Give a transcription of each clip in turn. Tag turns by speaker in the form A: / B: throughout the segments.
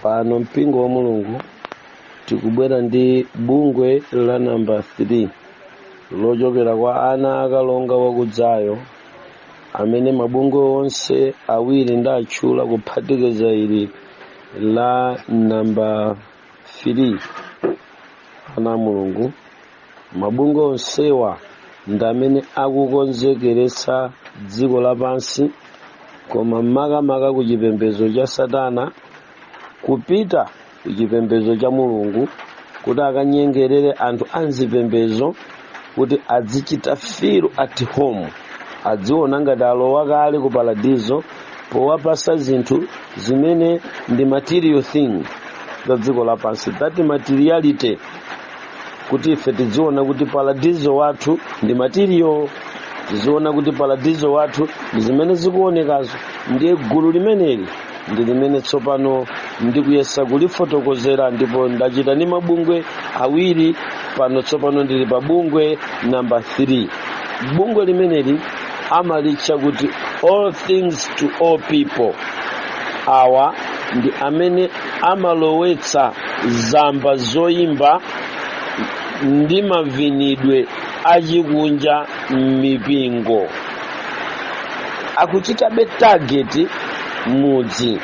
A: pano mpingo wa mulungu tikubwera ndi bungwe la namba 3 lochokera kwa ana akalonga wakudzayo amene mabungwe onse awiri ndatchula kuphatikiza ili la namba 3 ana a mulungu mabungwe onsewa ndi amene akukonzekeretsa dziko lapansi koma makamaka ku chipembedzo cha satana kupita ku chipembedzo cha mulungu kuti akanyengerere anthu a mzipembedzo kuti adzichita feel at home adziona ngati alowa kale ku paradizo powapasa zinthu zimene ndi material thing za dziko lapansi that materiality kuti ife tidziona kuti paradizo wathu ndi material tiziona kuti paradizo wathu ndi zimene zikuonekazo ndiye gulu limeneli ndi limene tsopano ndikuyesa kulifotokozera ndipo ndachita ndi mabungwe awiri pano tsopano ndili pa bungwe namba 3 bungwe limeneli amalitcha kuti all things to all people awa ndi amene amalowetsa zamba zoyimba ndi mavinidwe achikunja m'mipingo akuchitabe target mudzi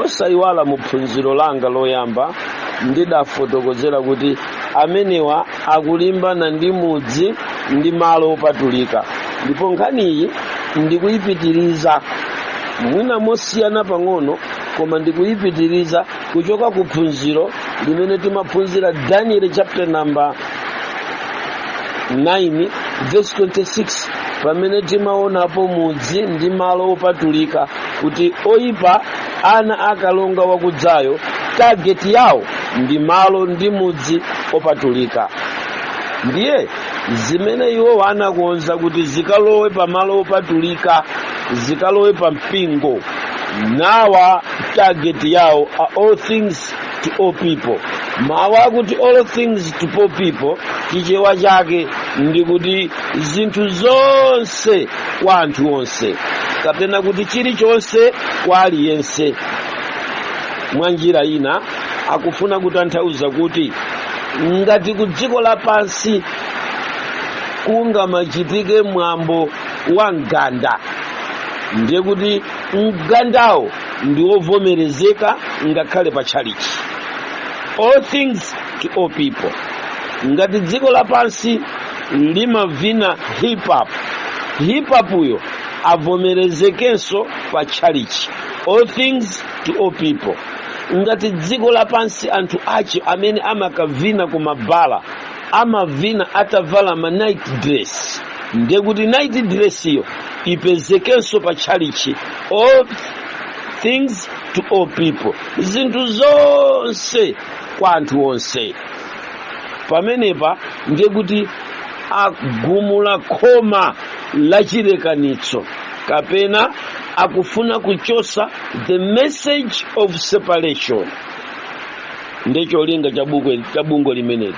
A: osayiwala mu phunziro langa loyamba ndidafotokozera kuti amenewa akulimbana ndi mudzi ndi malo opatulika ndipo nkhaniyi ndikuyipitiriza mwina mosiyana pang'ono koma ndikuyipitiriza kuchoka ku phunziro limene timaphunzira daniel chapter number 9 verse 26 pamene timaonapo mudzi ndi malo opatulika kuti oyipa ana akalonga wakudzayo target yawo ndi malo ndi mudzi opatulika ndiye zimene iwo anakonza kuti zikalowe pa malo opatulika zikalowe pa mpingo nawa target yawo a all things to all people mawu akuti all things to all people chichewa chake ndi kuti zinthu zonse kwa anthu onse kapena kuti chilichonse kwa aliyense mwa njira ina akufuna kutanthauza kuti ngati ku dziko lapansi kungamachitike mwambo wa mganda ndiye kuti mgandawo ndi wovomerezeka ngakhale pa tchalichi all things to all people ngati dziko lapansi likamavina hip hop hip hopuyo avomerezekenso pa tchalichi all things to all people ngati dziko lapansi anthu ache amene amakavina ku mabala amavina atavala ma night dress ndiye kuti night dress iyo ipezekenso pa tchalichi all things to all people zinthu zonse kwa anthu onse pamenepa ndiye kuti agumula khoma la chilekanitso kapena akufuna kuchosa the message of separation ndi cholinga cha bungwe limeneli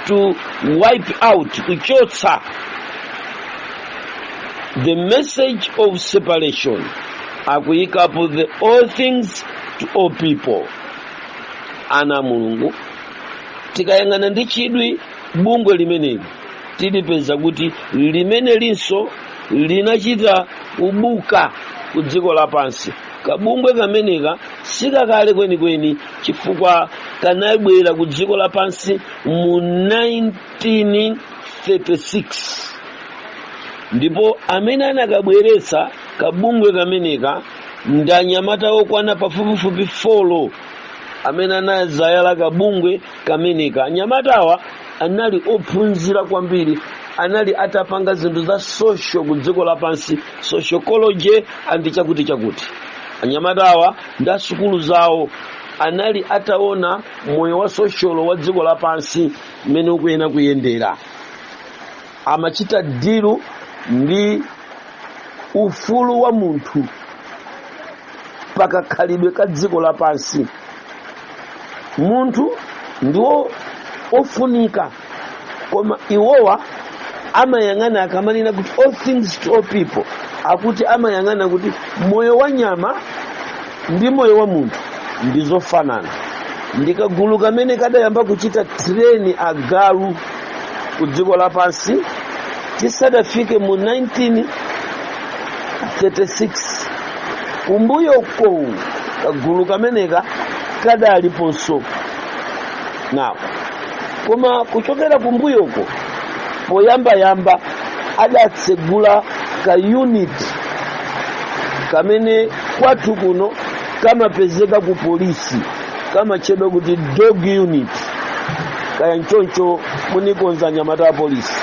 A: to wipe out kuchotsa the message of separation akuyikapo the all things to all people ana a mulungu tikayang'ana ndi chidwi bungwe limeneli tilipeza kuti limene linso linachita kubuka ku dziko lapansi kabungwe kameneka sikakale kwenikweni chifukwa kanabwera ku dziko lapansi mu 1936 ndipo amene anakabweretsa kabungwe kameneka ndanyamata okwana pafupifupi folo amene anazayala kabungwe kameneka anyamatawa anali ophunzira kwambiri anali atapanga zinthu za social ku dziko lapansi sociology and chakuti chakuti anyamatawa ndi asukulu zawo anali ataona moyo wa sosholo wa dziko lapansi mmene ukuyenera kuyendera amachita dilu ndi ufulu wa munthu pakakhalidwe ka dziko lapansi munthu ndi wofunika koma iwowa amayang'ana akamanena kuti all things to all people akuti amayang'ana kuti moyo wa nyama ndi moyo wa munthu ndi zofanana ndi kagulu kamene kadayamba kuchita tireni agalu ku dziko lapansi tisadafike mu 1936 kumbuyoko kagulu kameneka kadaliponso now koma kuchokera kumbuyoko poyambayamba adatsegula ka unit kamene kwathu kuno kamapezeka ku polisi kamatchedwa kuti dog unit kaya nchoncho munikonza anyamata a polisi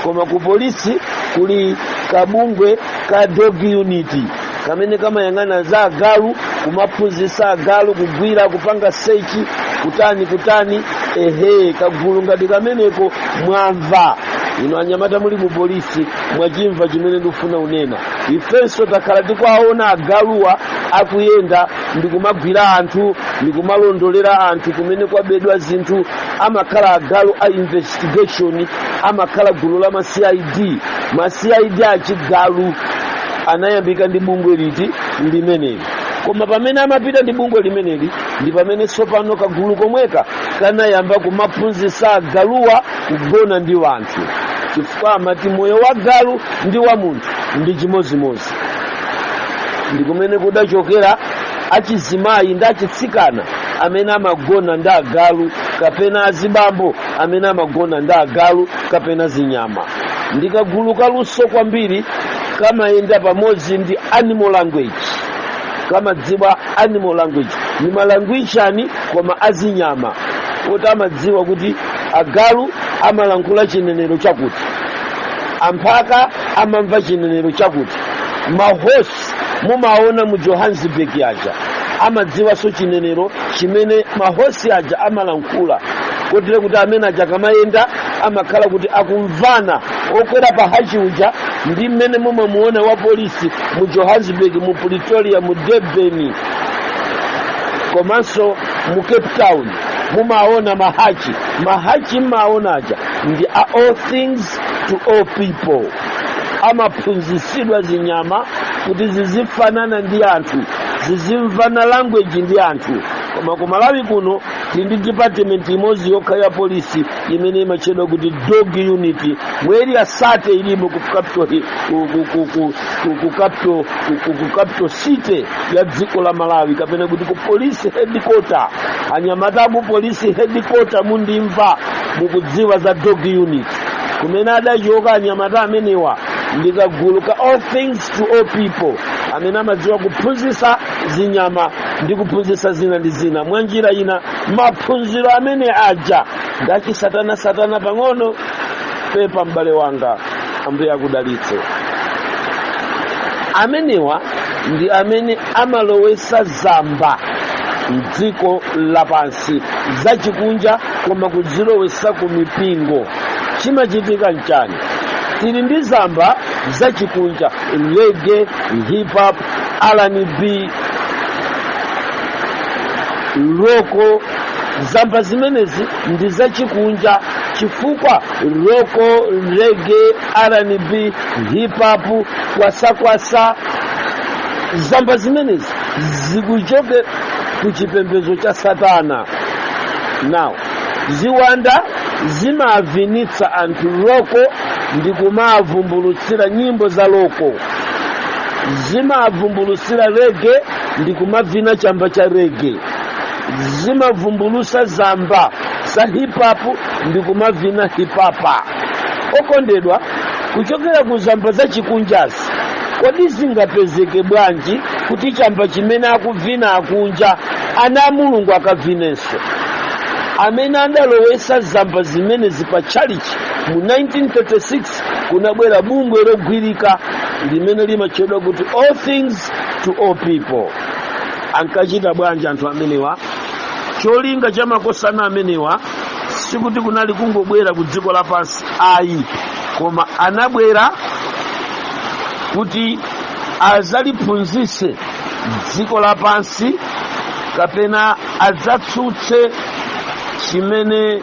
A: koma ku polisi kuli kabungwe ka dog unit kamene kamayang'ana za agalu kumaphunzitsa agalu kugwira kupanga sechi kutani kutani ehe kagulu ngati kameneko mwamva inu anyamata muli ku polisi mwachimva chimene ndikufuna unena ifenso takhala tikuwaona agaluwa akuyenda ndikumagwira anthu ndikumalondolera anthu kumene kwabedwa zinthu amakhala agalu a investigation amakhala gulu la ma cid ma cid achigalu anayambika ndi bungwe liti limeneli koma pamene amapita ndi bungwe limeneli ndi pamene tsopano kagulu komweka kanayamba kumaphunzitsa agaluwa kugona ndi wanthu chifukwa amati moyo wa galu ndi wa munthu ndi chimodzimodzi ndi kumene kudachokera achizimayi ndi achitsikana amene amagona ndi agalu kapena azibambo amene amagona ndi agalu kapena zinyama ndi kagulu kaluso kwambiri kamayenda pamodzi ndi animal language kamadziwa animal language ndi malangwishani koma azinyama kuti amadziwa kuti agalu amalankhula chinenero chakuti amphaka amamva chinenero chakuti mahosi mumaona mu johannesburg aja amadziwanso chinenero chimene mahosi aja amalankhula kotero kuti amene aja akamayenda amakhala kuti akumvana okwera pa hachi uja ndi mmene mumamuona wa polisi mu johannesburg mu pretoria mu durban komanso mu cape town mumaona mahachi mahachi mmaona aja ndi a all things to all people amaphunzitsidwa zinyama kuti zizifanana ndi anthu zizimvana language ndi anthu koma ku malawi kuno tili ndi department imodzi yokha ya polisi imene imatchedwa kuti dog unit mu eriya sate ilimo ku capital hi- ku- ku- ku- ku- ku- ku capital- ku- ku- ku capital city ya dziko la malawi kapena kuti ku police headquarter anyamata aku police headquarter mundimva mukudziwa za dog unit kumene adachoka anyamata amenewa ndi kagulu ka all things to all people amene amadziwa kuphunzitsa zinyama ndi kuphunzitsa zina ndi zina mwa njira ina maphunziro amene aja ndachisatana satana pang'ono pepa m'bale wanga ambuye akudalitse amenewa ndi amene amalowesa za mmbamba mdziko lapansi zachikunja koma kudzilowesa ku mipingo chimachitika nchani tili ndi zamba zachikunja reggae hip hop R and B roko zamba zimenezi ndi zachikunja chifukwa roko rege rnb hipapu kwasakwasa zamba zimenezi zikuchokera ku chipembedzo cha satana now ziwanda zimavinitsa anthu roko ndi kumavumbulutsira nyimbo za roko zimavumbulutsira rege ndi kumavina chamba cha rege zimavumbulusa zamba za hipapu ndi kumavina hipapu okondedwa kuchokera ku zamba za chikunjazi kodi zingapezeke bwanji kuti chamba chimene akuvina akunja ana a mulungu akavinenso amene analowesa zamba zimenezi pa tchalichi mu 1936 kunabwera bungwe logwilika limene limatchedwa kuti all things to all people ankachita bwanji anthu amenewa cholinga cha makosana amenewa sikuti kunali kungobwera ku dziko lapansi ayi koma anabwera kuti azaliphunzitse dziko lapansi kapena adzatsutse chimene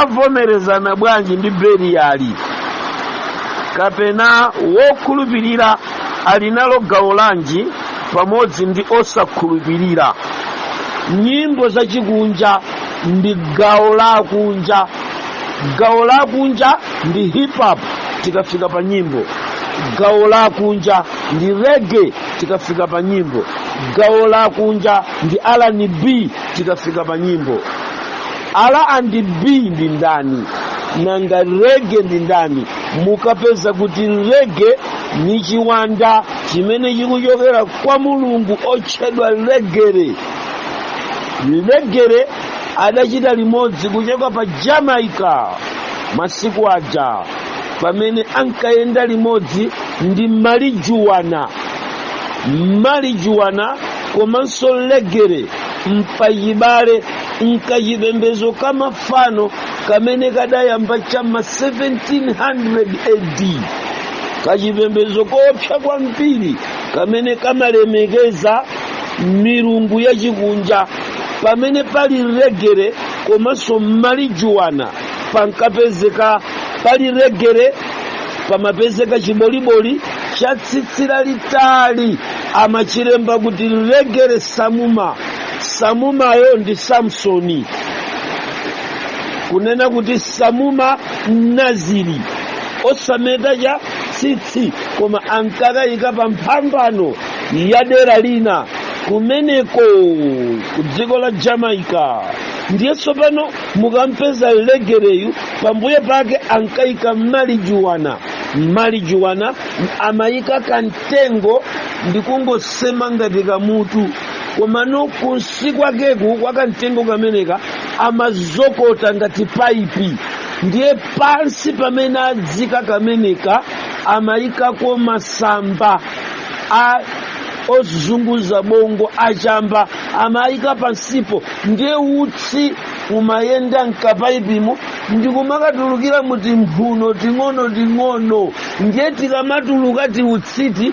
A: avomerezana bwanji ndi beliyali kapena wokhulupirira ali nalo gawo lanji pamodzi ndi osakhulupirira nyimbo zachikunja ndi gawo lakunja gawo lakunja ndi hip hop tikafika pa nyimbo gawo lakunja ndi rege tikafika pa nyimbo gawo lakunja ndi rnb tikafika pa nyimbo R and B ndi ndani? Nanga rege ndi ndani? Mukapeza kuti rege ndi chiwanda chimene chikuchokera kwa mulungu otchedwa legere. Legere adachita limodzi kuchoka pa Jamaica masiku aja pamene ankayenda limodzi ndi malijuwana malijuwana komanso legere mpachibale mkachipembezo ka mafano kamene kadayamba cha ma 1700 AD kachipembezo koopsa kwambiri kamene kamalemekeza milungu yachikunja pamene pali legere komanso malijuwana pankapezeka pali legere pamapezeka chiboliboli cha tsitsi lalitali amachilemba kuti legere samuma samumayu ndi samsoni kunena kuti samuma mnaziri osameta cha tsitsi koma ankakayika pa mphambano ya dera lina kumeneko ku dziko la jamaica ndiye tsopano mukampeza legereyu pambuyo pake ankayika malijuwana malijuwana amayika kamtengo ndikungosema ngati kamutu komano kunsi kwakeku kwakamtengo kameneka amazokota ngati paipi ndiye pansi pamene adzika kameneka amayikako masamba ozunguza bongo achamba amayika pansipo ndiye utsi umayenda mkapaipimo ndikumakatulukira mutimphuno ting'ono ting'ono ndiye tikamatuluka tiutsiti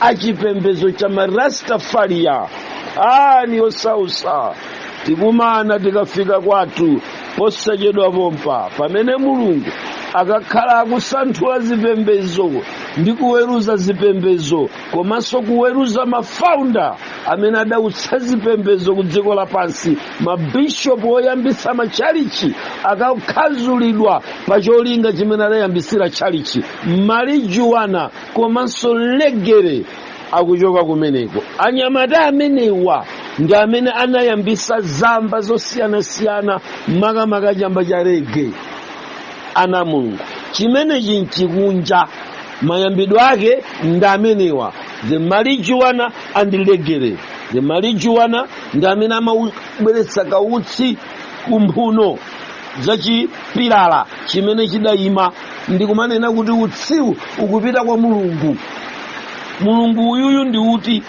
A: achipembedzo cha marastafariya nkhani yosausa tikumana tikafika kwathu posachedwa pompa pamene mulungu akakhala akusanthula zipembedzo ndi kuweruza zipembedzo komanso kuweruza mafaunda amene adautsa zipembedzo ku dziko lapansi mabishopu oyambitsa matchalichi akakhaulidwa pa cholinga chimene adayambitsira tchalichi marijuwana komanso legere akuchoka kumeneko anyamata amenewa ndi amene anayambisa zamba zosiyanasiyana makamaka chamba cha rege ana a mulungu chimenechi nchikunja mayambidwe ake ndi amenewa the marijuana and legere the marijuana ndi amene amabweretsa kautsi kumphuno za chipilala chimene chidayima ndikumanena kuti utsiwu ukupita kwa mulungu mulungu uyuyu ndi uti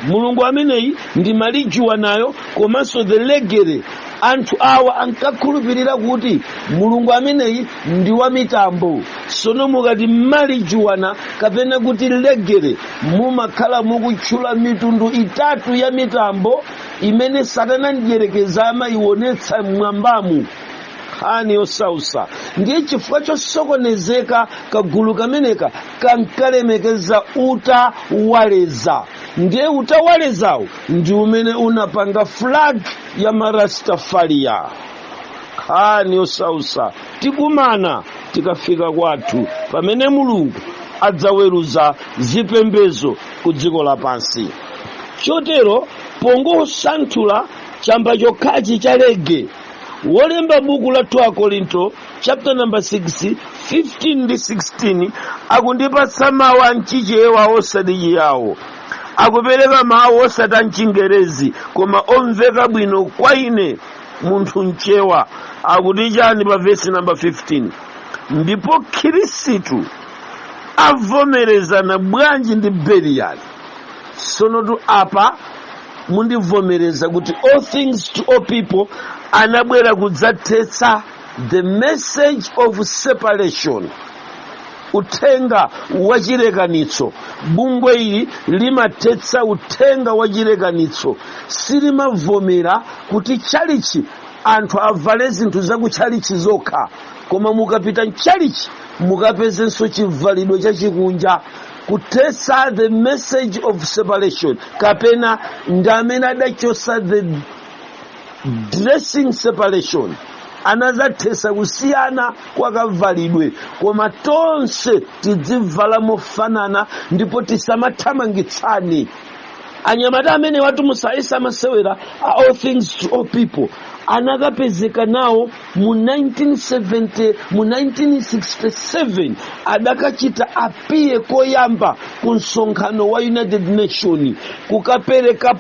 A: mulungu ameneyi ndi malijuwanayo komanso the legere anthu awa ankakhulupirira kuti mulungu ameneyi ndi wa mitambo sono mukati malijuwana kapena kuti legere mumakhala mukutchula mitundu itatu ya mitambo imene satana mdyerekezi amayionetsa mmwambamu nkhani yosausa ndiye chifukwa chosokonezeka kagulu kameneka kankalemekeza utawaleza ndiye utawalezawo ndi umene unapanga flag ya marastafaria nkhani yosausa tikumana tikafika kwathu pamene mulungu adzaweruza zipembezo ku dziko lapansi chotero pongosanthula chamba chokhachi cha rege wolemba buku la 2 akorinto chapter number 6 15 ndi 16 akundipatsa mawu a mchichewa osati chiyawo akupereka mawu osati a mchingerezi koma omveka bwino kwa ine munthu mchewa akuti chani pa vesi namba 15 ndipo khirisitu avomerezana bwanji ndi beliyali sono tu apa mundivomereza kuti all things to all people anabwera kudzathetsa the message of separation uthenga wa chilekanitso bungwe ili limathetsa uthenga wa chilekanitso silimavomera kuti tchalichi anthu avale zinthu za kutchalichi zokha koma mukapita mtchalichi mukapezenso chivalidwe chachikunja kuthetsa the message of separation kapena ndi amene adachotsa the dressing separation anadzathetsa kusiyana kwa kavalidwe koma tonse tidzivala mofanana ndipo tisamathamangitsane anyamata amene watumusayi samasewera a all things to all people anakapezeka nawo mu 1967 adakachita apiye koyamba ku msonkhano wa united nation kukapereka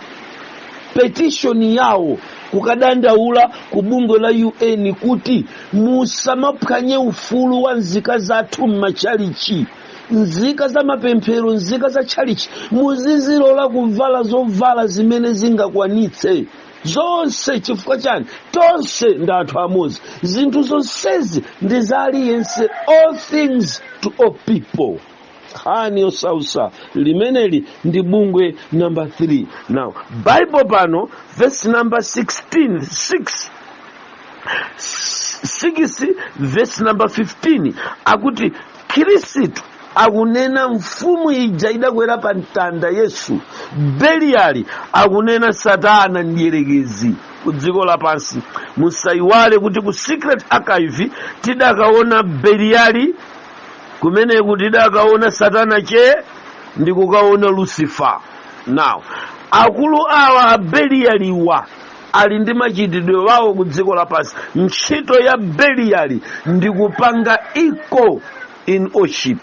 A: petition yawo kukadandaula ku bungwe la un kuti musamaphwanye ufulu wa nzika zathu m'machalichi nzika za mapemphero nzika za chalichi muzizilola kuvala zovala zimene zingakwanitse zonse chifukwa chani tonse ndi anthu amodzi zinthu zonsezi ndi za aliyense all things to all people nkhani yosausa limeneli ndi bungwe namba 3 now bible pano verse number 16 6 6 verse number 15 akuti khristu akunena mfumu ija idakwera pa mtanda yesu beliyali akunena satana mdierekezi ku dziko lapansi musayiwale kuti ku secret archive tidakaona beliyali kumeneku tidakaona satana che ndi kukaona lucifer now akulu awa a beliyaliwa ali ndi kachitidwe wawo ku dziko lapansi ntchito ya beliyali ndi kupanga equal in worship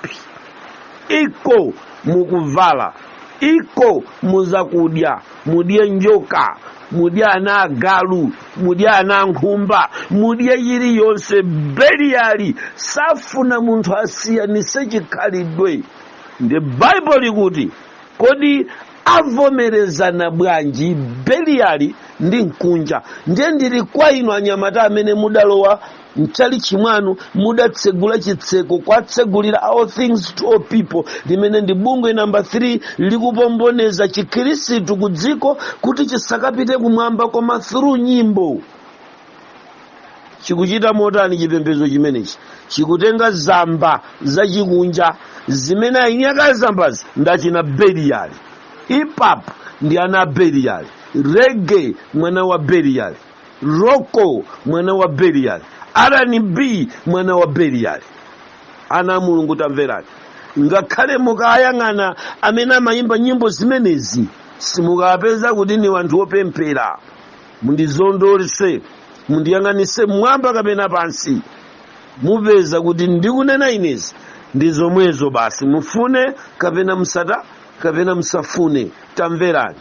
A: equal mukuvala equal muzakudya mudye njoka mudye ana agalu mudye ana ankhumba mudye chilichonse beliyali safuna munthu asiyanise chikhalidwe ndi baibulo likuti Kodi avomerezana bwanji Beliyali ndi Mkunja? Ndiye ndili kwa inu anyamata amene mudalowa m'tchalitchi mwanu, mudatsegula chitseko kuwatsegulira All Things to All People, limene ndi bungwe namba 3 likupomboneza chikhirisitu ku dziko kuti chisakapite kumwamba koma through nyimbo. chikuchita motani chipembedzo chimenechi chikutenga zamba zachikunja zimene aini ake a zambazi ndi achina beliyali hip hop ndi ana a beliyali reggae mwana wa beliyali rock mwana wa beliyali R&B mwana wa beliyali ana a mulungu tamverani ngakhale mukayang'ana amene amayimba nyimbo zimenezi simukapeza kuti ndi wanthu opemphera mundizondolotse mundiyang'anitse mmwamba kapena pansi mupeza kuti ndikunena inezi ndi zomwezo basi mufune kapena musata kapena musafune tamverani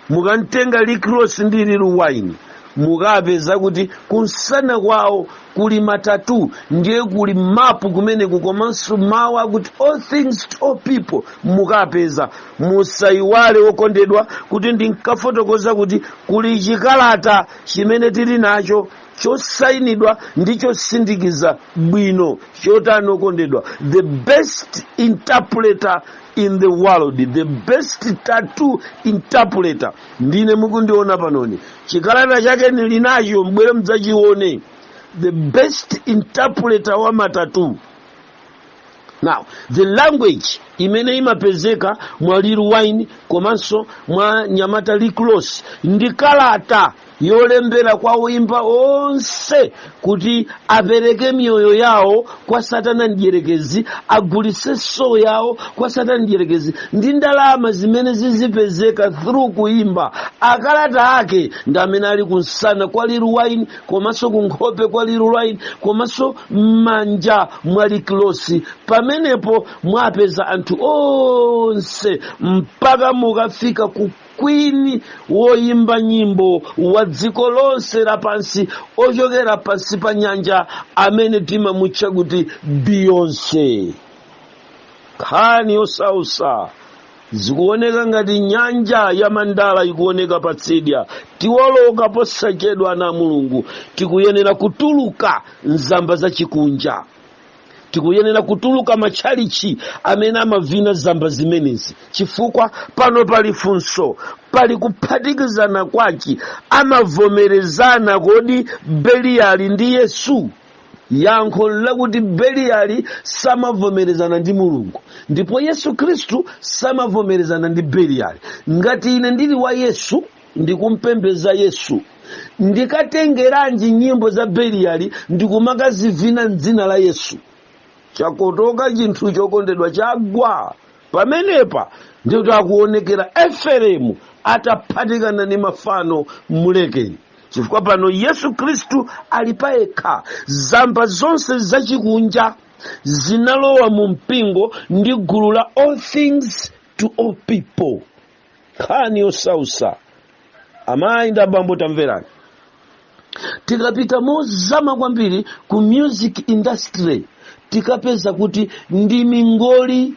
A: mukantenga Rick Ross ndi Lil Wayne mukapeza kuti kumsana kwawo kuli ma tattoo ndiye kuli mapu kumeneku komanso mawu akuti all things to all people mukapeza musayiwale okondedwa kuti ndinkafotokoza kuti kuli chikalata chimene tili nacho chosayinidwa ndi chosindikiza bwino chotani okondedwa the best interpreter in the world the best tattoo interpreter ndine mukundiona panoni chikalata chake ndili nacho mbwere mudzachione the best interpreter wa ma tattoo now the language imene imapezeka mwa Lil Wayne komanso mwa mnyamata Rick Ross ndi kalata yolembera kwa oimba onse kuti apereke miyoyo yawo kwa satana mdyerekezi agulitse soul yawo kwa satana mdyerekezi ndi ndalama zimene zizipezeka through kuimba akalata ake ndi amene ali kumsana kwa Lil Wayne komanso kunkhope kwa Lil Wayne komanso m'manja mwa Rick Ross pamenepo mwapeza anthu onse mpaka mukafika ku queen woyimba nyimbo wa dziko lonse lapansi ochokera pansi pa nyanja amene timamutcha kuti beyonce nkhani yosausa zikuoneka ngati nyanja ya mandala yikuoneka patsidya tiwoloka posachedwa ana a mulungu tikuyenera kutuluka mzamba za chikunja tikuyenera kutuluka matchalichi amene amavina zamba zimenezi chifukwa pano pali funso pali kuphatikizana kwachi amavomerezana kodi beliyali ndi yesu yankho ndi lakuti beliyali samavomerezana ndi mulungu ndipo yesu khristu samavomerezana ndi beliyali ngati ine ndili wa yesu ndikumpembeza yesu ndikatengeranji nyimbo za beliyali ndikumakazivina mdzina la yesu chakotoka chinthu chokondedwa chagwa pamenepa ndi pamene akuonekera efereimu ataphatikana ndi mafano mulekeni chifukwa pano yesu khristu ali payekha zamba zonse zachikunja zinalowa mu mpingo ndi gulu la all things to all people nkhani yosausa amayi ndi abambo tamverani tikapita mozama kwambiri ku music industry tikapeza kuti ndi mingoli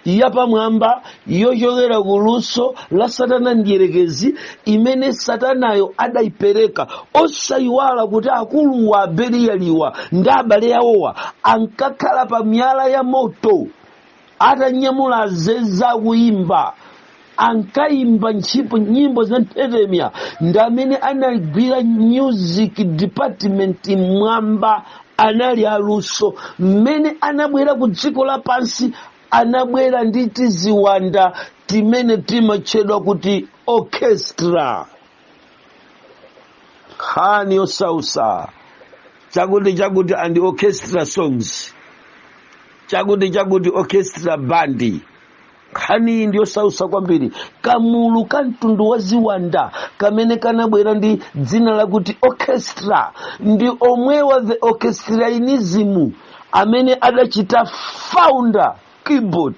A: yapamwamba yochokera ku luso la satana mdyerekezi imene satanayo adayipereka osayiwala kuti akulu wa abeliyaliwa ndi abale awowa ankakhala pa miyala ya moto atanyamula azeze akuyimba ankayimba ntchipo nyimbo za nthetemya ndi amene anagwira music department mwamba anali aluso mmene anabwera ku dziko lapansi anabwera ndi tiziwanda timene timatchedwa kuti orchestra nkhani yosausa chakuti chakuti and orchestra songs chakuti chakuti orchestra bandi nkhani iyi ndiyosausa kwambiri kamulu ka mtundu wa ziwanda kamene kanabwera ndi dzina lakuti orchestra ndi omwe wa the orchestrainism amene adachita founder keyboard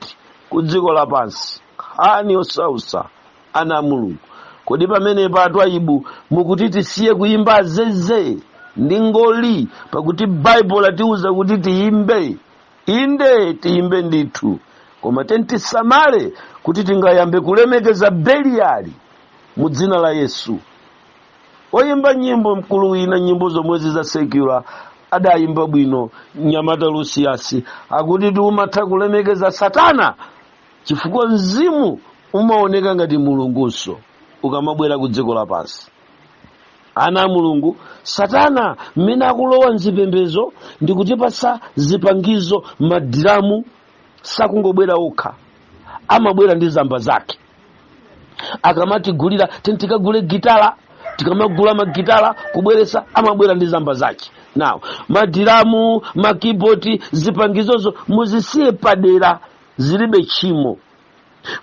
A: ku dziko lapansi nkhani yosausa ana a mulungu kodi pamenepa atwayibu mukuti tisiye kuyimba azeze ndi mingoli pakuti baibulo latiuza kuti tiyimbe inde tiyimbe ndithu koma tiyeni tisamale kuti tingayambe kulemekeza beliyali mu dzina la yesu oyimba nyimbo mkulu wina nyimbo zomwezi za secular adayimba bwino mnyamata lusiyasi akuti timatha kulemekeza satana chifukwa mzimu umaoneka ngati mulungunso ukamabwera ku dziko lapansi ana a mulungu satana mmene akulowa mzipembezo ndi kutipatsa zipangizo madiramu sakungobwera okha amabwera ndi zamba zake akamatigulira ndi tikagule gitala tikamagula magitala kubweresa amabwera ndi zamba zake nawo madiramu makiboti zipangizozo muzisiye padera zilibe tchimo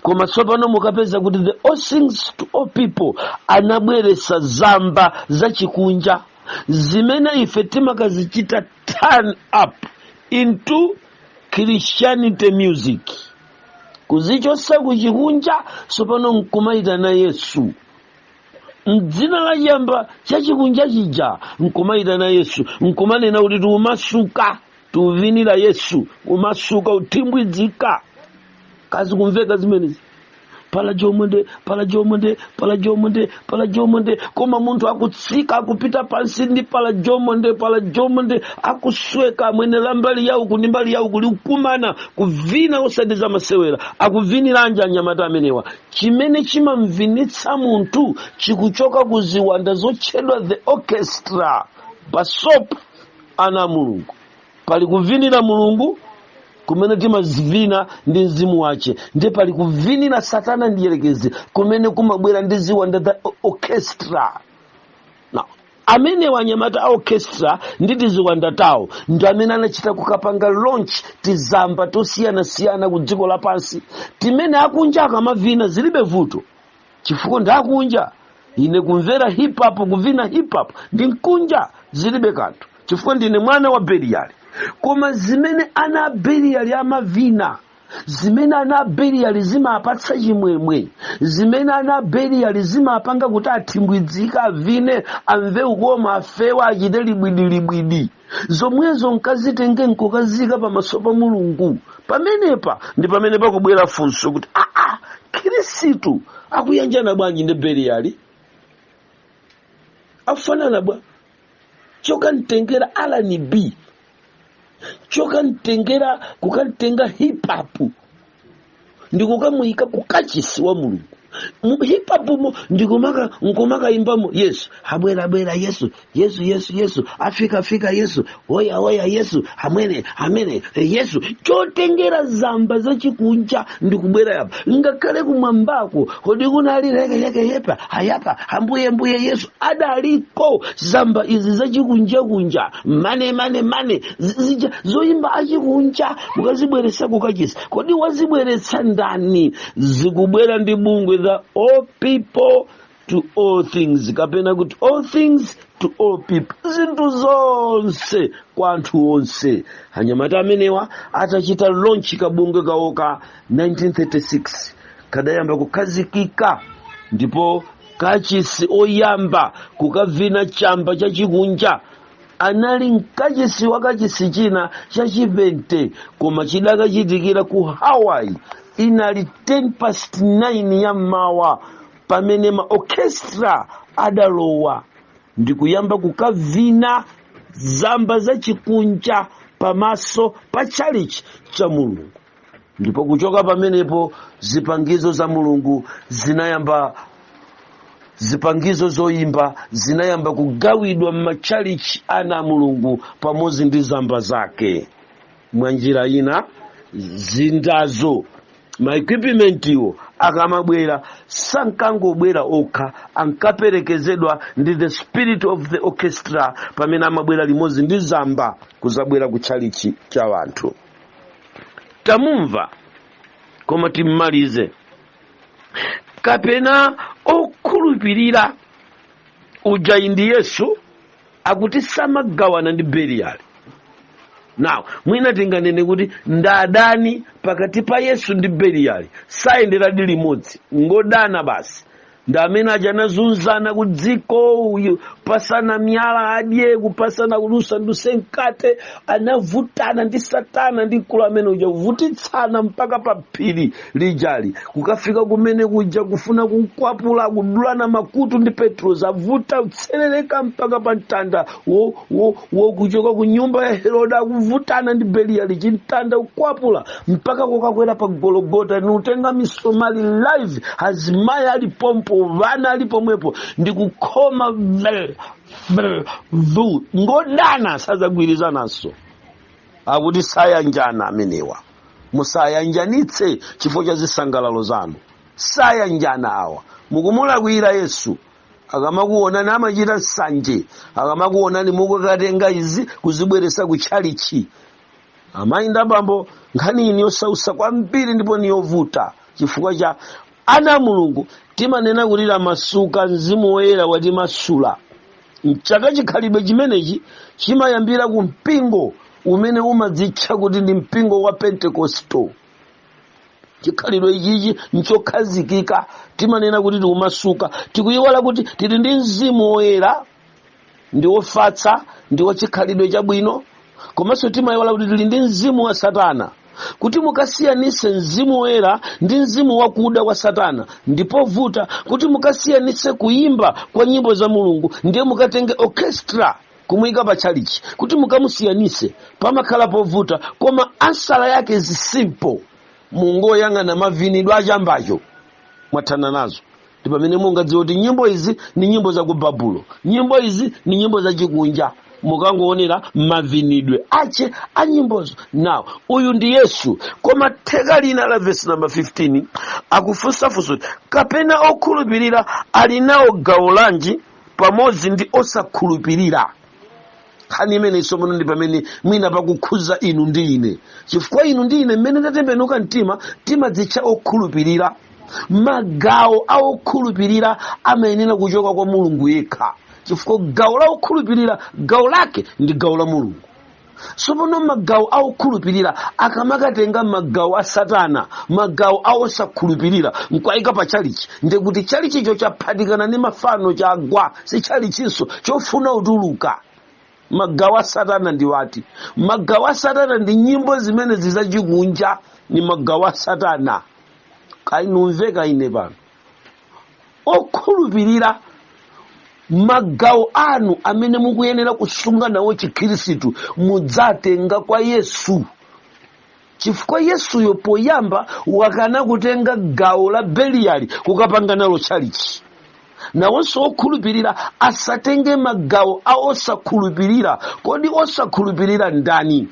A: koma tsopano mukapeza kuti the all things to all people anabweretsa zamba zachikunja zimene ife timakazichita turn up into christianity music kuzichotsa kuchikunja tsopano nkumayitana yesu mdzina la chamba chachikunja chija nkumayitana yesu nkumanena kuti tikumasuka tuvinira yesu kumasuka kuthimbwidzika kazi kumveka zimenezi pala jomonde pala jomonde pala jomonde pala jomonde koma munthu akutsika akupita pansi ndi pala jomonde pala jomonde akusweka mwene la mbali yawo kuni mbali yawo kuli kukumana kuvina osati za masewera akuviniranji anyamata amenewa chimene chimamvinitsa munthu chikuchoka ku ziwanda zotchedwa the orchestra basopo ana a mulungu pali kuvinira mulungu kumene timazivina ndi mzimu wache ndiye pali kuvinira satana mdyerekezi kumene kumabwera ndi ziwanda the orchestra Now, amenewa anyamata a orchestra ndi tiziwanda tawo ndi amene anachita kukapanga launch tizamba tosiyanasiyana ku dziko lapansi timene akunja akamavina zilibe vuto chifukwa ndi akunja ine kumvera hip hop kuvina hip hop ndili mkunja zilibe kanthu chifukwa ndine mwana wa beliyali koma zimene ana a beliyali amavina zimene ana a beliyali zimapatsa chimwemwe zimene ana a beliyali zimapanga kuti athimbwidzika avine amve ukoma afewa achite libwidilibwidi zomwezo nkazitenge nkukazika pamaso pa mulungu pamenepa ndi pamene pakubwera funso kuti aa khirisitu akuyanjana bwanji ndi beliyali akufanana bwa chokamtengera R&B chokamtengera kukamtenga hip hop ndikukamuyika ku kachisi wa mulungu Mu- hip hop mo ndikumaka nkumakayimbamo yesu abwera abwera yesu yesu yesu yesu afika afika yesu oya oya yesu amene amene eh, yesu chotengera zamba zachikunja ndikubweretsa apa ngakhale kumwambako kodi kunali lekeleke yepa ayapa ambuye ambuye yesu adaliko zamba izi zachikunjakunja mane mane mane zi- zija zoyimba achikunja mukazibweretsa kukachisi kodi wazibweretsa ndani zikubwera ndi bungwe za all people to all things kapena kuti all things to all people zinthu zonse kwa anthu onse anyamata amenewa atachita launch kabungwe kawoka 1936 kadayamba kukhazikika ndipo kachisi oyamba kukavina chamba chachikunja anali mkachisi wa kachisi china chachipente koma chidakachitikira ku hawaii inali 10 past 9 ya mmawa pamene ma orchestra adalowa ndikuyamba kukavina zamba zachikunja pamaso pa tchalichi cha mulungu ndipo kuchoka pamenepo zipangizo za mulungu zinayamba zipangizo zoyimba zinayamba kugawidwa m'matchalichi ana a mulungu pamodzi ndi zamba zake mwa njira ina zindazo maekipimentiwo akamabwera sankangobwera okha ankaperekezedwa ndi the spirit of the orchestra pamene amabwera limodzi ndi zamba kuzabwera ku tchalichi cha wanthu tamumva koma timmalize kapena okhulupirira uja indi yesu akuti samagawana ndi beliyali now mwina tinganene kuti ndadani pakati pa yesu ndi beliyali sayenderadi limodzi ngodana basi ndi amene aja anazunzana ku dziko kupatsana miyala adye kupatsana kulusa nduse mkate anavutana ndi satana ndi mkulu amene uja kuvutitsana mpaka pa phiri lijali kukafika kumene kuja kufuna kunkwapula kudulana makutu ndi petro zavuta kutsetsereka mpaka pa mtanda wo- wo- wokuchoka ku nyumba ya herode akuvutana ndi beliyali chimtanda kukwapula mpaka kukakwera pa gologota nikutenga misomali live azimayi ali pompo vana ali pomwepo ndikukhoma vel vel vu ngodana sadzagwirizananso akuti sayanjana amenewa musayanjanitse chifukwa cha zisangalalo zanu sayanjana awa mukumulakwira yesu akamakuonani amachita nsanje akamakuonani mukukatenga izi kuzibweretsa ku tchalichi amayi ndi abambo nkhani iyi ndi yosautsa kwambiri ndipo niyovuta chifukwa cha ana a mulungu timanena kuti tamasuka mzimu woyera watimasula mchaka chikhalidwe chimenechi chimayambira ku mpingo umene umadzitcha kuti ndi mpingo wa pentekosto chikhalidwe ichichi nchokhazikika timanena kuti tikumasuka tikuyiwala kuti tili ndi mzimu woyera ndi wofatsa ndi wachikhalidwe chabwino komanso timayiwala kuti tili ndi mzimu wa satana kuti mukasiyanise mzimu woyera ndi mzimu wakuda wa satana ndi povuta kuti mukasiyanise kuyimba kwa nyimbo za mulungu ndiye mukatenge orchestra kumuyika pa tchalichi kuti mukamusiyanise pamakhala povuta koma ansala yake is simple mungoyang'ana mavinidwe a chambacho mwathana nazo ndi pamene mungadziwe kuti nyimbo izi ni nyimbo za ku babulo nyimbo izi ni nyimbo za chikunja mukangoonera mavinidwe ache a nyimbozo now uyu ndi yesu koma theka lina la vesi namba 15 akufunsafunsa kuti kapena okhulupirira ali nawo gawo lanji pamodzi ndi osakhulupirira nkhani imeneyi tsopano ndi pamene mwina pakukhuza inu ndi ine chifukwa inu ndi ine mmene tatembenuka mtima timadzitcha okhulupirira magawo a okhulupirira amayenera kuchoka kwa mulungu yekha chifukwa gawo la okhulupirira gawo lake ndi gawo la mulungu tsopano magawo a okhulupirira akamakatenga magawo a satana magawo a osakhulupirira nkuwayika pa chalichi ndiye kuti chalichicho chaphatikana ndi mafano chagwa si chalichinso chofuna kutuluka magawo a satana ndi ati magawo a satana ndi nyimbo zimenezi zachikunja ni magawo a satana kaya nkumveka ine pano okhulupirira magawo anu amene mukuyenera kusunga nawo chikhristu mudzatenga kwa yesu chifukwa yesuyo poyamba wakana kutenga gawo la beliyali kukapanga nalo tchalichi nawonso okhulupirira asatenge magawo a osakhulupirira kodi osakhulupirira ndani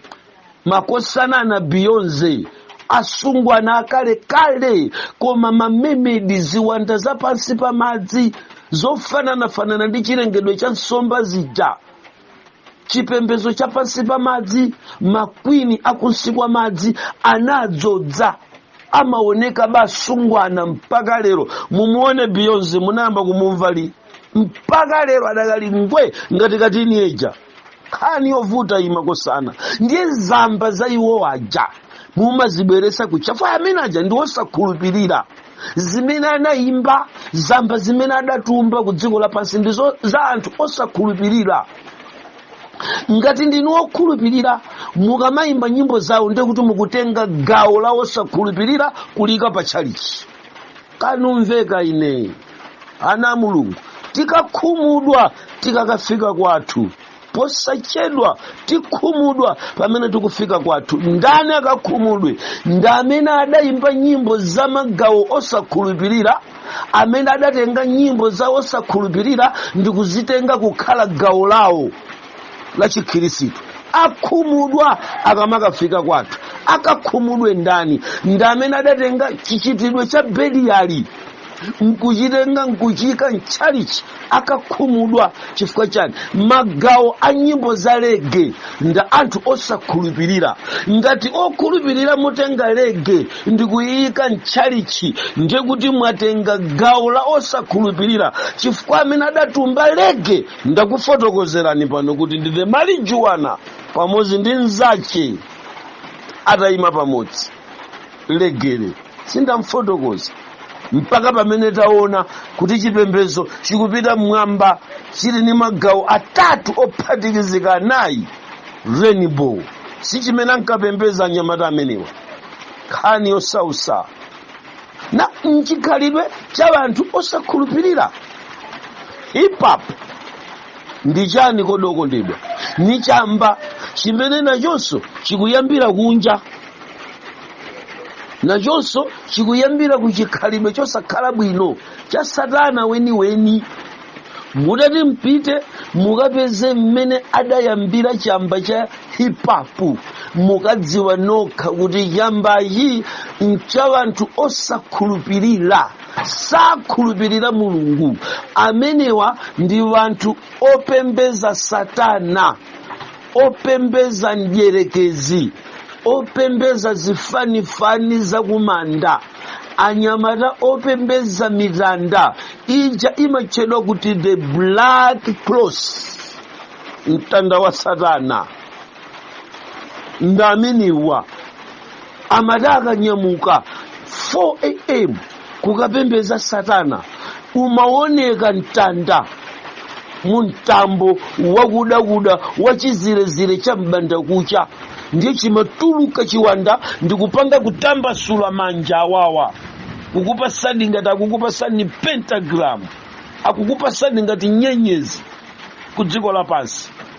A: makosana ana beyonce asungwana akale kale koma mamemedi ziwanda za pansi pa madzi zofananafanana ndi chilengedwe cha nsomba zija chipembedzo cha pansi pa madzi makwini akunsi kwa madzi anadzodza amaoneka ba asungwana mpaka lero mumuone beyonce munayamba kumumva liti mpaka lero adakali ngwe ngati ka teenager nkhani yovuta iyi makosana ndiye zamba za iwo aja mumazibweresa kuchafa amene aja ndi osakhulupirira zimene anayimba zamba zimene adatumba ku dziko lapansi ndi za anthu osakhulupirira ngati ndinu okhulupirira mukamayimba nyimbo zawo ndiye kuti mukutenga gawo la osakhulupirira kuliika pa tchalichi kandimvereni ine ana a mulungu tikakhumudwa tikakafika kwathu posachedwa tikhumudwa pamene tikufika kwathu ndani akakhumudwe ndi amene adayimba nyimbo za magawo osakhulupirira amene adatenga nyimbo za osakhulupirira ndi kuzitenga kukhala gawo lawo la chikhirisitu akhumudwa akamakafika kwathu akakhumudwe ndani ndi amene adatenga chichitidwe cha beliyali nkuchitenga nkuchiika mtchalichi akakhumudwa chifukwa chani magawo a nyimbo za lege nda anthu osakhulupirira ngati okhulupirira mutenga lege ndikuyiyika mtchalichi ndiye kuti mwatenga gawo la osakhulupirira chifukwa amene adatumba lege ndakufotokozerani pano kuti ndi marijuwana pamodzi ndi mnzache atayima pamodzi legeyo sindamfotokoza mpaka pamene taona kuti chipembedzo chikupita mmwamba chili ndi magawo atatu ophatikizika anayi rainbow si chimene ankapembeza anyamata amenewa nkhani yosausa na mchikhalidwe cha wanthu osakhulupirira hip hop ndi chani kodi okondedwa ni chamba chimene nachonso chikuyambira kunja nachonso chikuyambira ku chikhalidwe chosakhala bwino cha satana weniweni mutati mpite mukapeze mmene adayambira chamba cha hip hop mukadziwa nokha kuti chambachi ncha anthu osakhulupirira sakhulupirira mulungu amenewa ndi anthu opembeza satana opembeza mdyerekezi opembeza zifanifani zakumanda anyamata opembeza mitanda ija imatchedwa kuti the black cross mtanda wa satana ndi amenewa amati akanyamuka 4 am kukapembeza satana umaoneka mtanda mu mtambo wakudakuda wa chizirezire cha m'bandakucha ndiye chimatuluka chiwanda ndikupanga kutambasula manja awawa kukupatsani ngati akukupatsani pentagram akukupatsani ngati nyenyezi ku dziko lapansi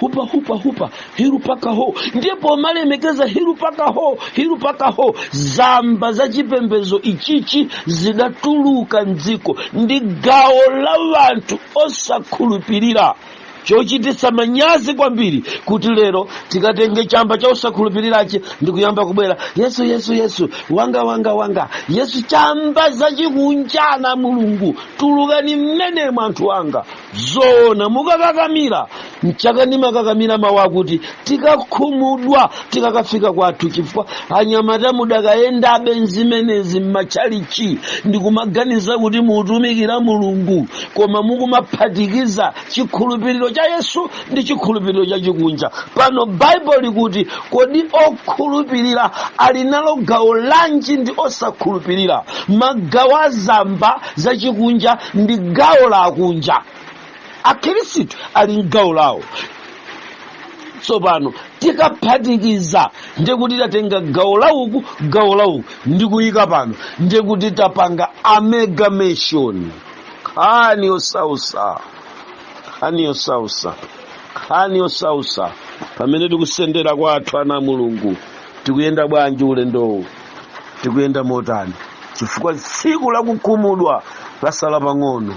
A: hupa hupa hupa hiru paka ho ndipo malemekeza hiru paka ho hiru paka ho zamba za chipembedzo ichichi zidatuluka mdziko ndi gawo la wanthu osakhulupirira chochititsa manyazi kwambiri kuti lero tikatenge chamba cha osakhulupirirachi ndi kuyamba kubwera Yesu Yesu yesu wanga wanga wanga Yesu chamba zachikunja na Mulungu tulukani mmenemo anthu anga zoona mukakakamira mchaka ndimakakamira mawu akuti tikakhumudwa tikakafika kwathu chifukwa anyamata mudakayendabe nzimenezi m'matchalichi ndikumaganiza kuti mukutumikira Mulungu koma mukumaphatikiza chikhulupiriro cha Yesu ndi chikhulupiriro cha chikunja pano baibulo likuti kodi okhulupirira ali nalo gawo lanji ndi osakhulupirira magawo a zamba zachikunja ndi gawo la akunja akhristu ali mgawo lawo tsopano tikaphatikiza ndikuti tatenga gawo lauku gawo lauku ndikuyika pano ndikuti tapanga amalgamation nkhani yosautsa nkhani yosautsa nkhani yosautsa pamene tikusendera kwathu ana a Mulungu tikuyenda bwanji ulendowu tikuyenda motani chifukwa tsiku lakukhumudwa lasala pang'ono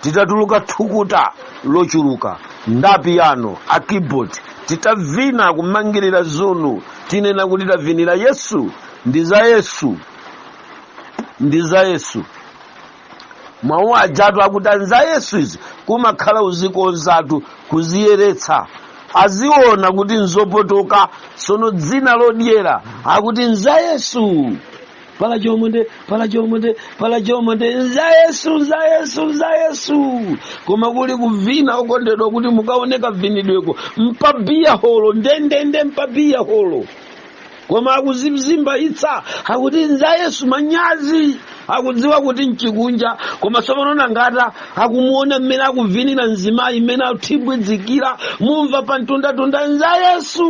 A: titatuluka thukuta lochuluka nda piyano a keyboard titavina kumangirira zunu tinena kuti tavinira Yesu ndi za Yesu ndi za Yesu mawu ajatu akuti a nza Yesu izi kumakhala kuzikonzatu kuziyeretsa akuziona kuti nzopotoka tsono dzina lodyera akuti nza Yesu pala chomonde pala chomonde pala chomonde nza Yesu nza Yesu nza Yesu koma kuli kuvina okondedwa kuti mukaone kavinidweko mpabiya holo ndendende mpabiya holo koma akuzizimbaitsa akuti nza Yesu manyazi akudziwa kuti nchikunja koma tsopanona ngati akumuona mmene akuvinira mzimayi mmene athibwidzikira mumva pa mtundatunda nza Yesu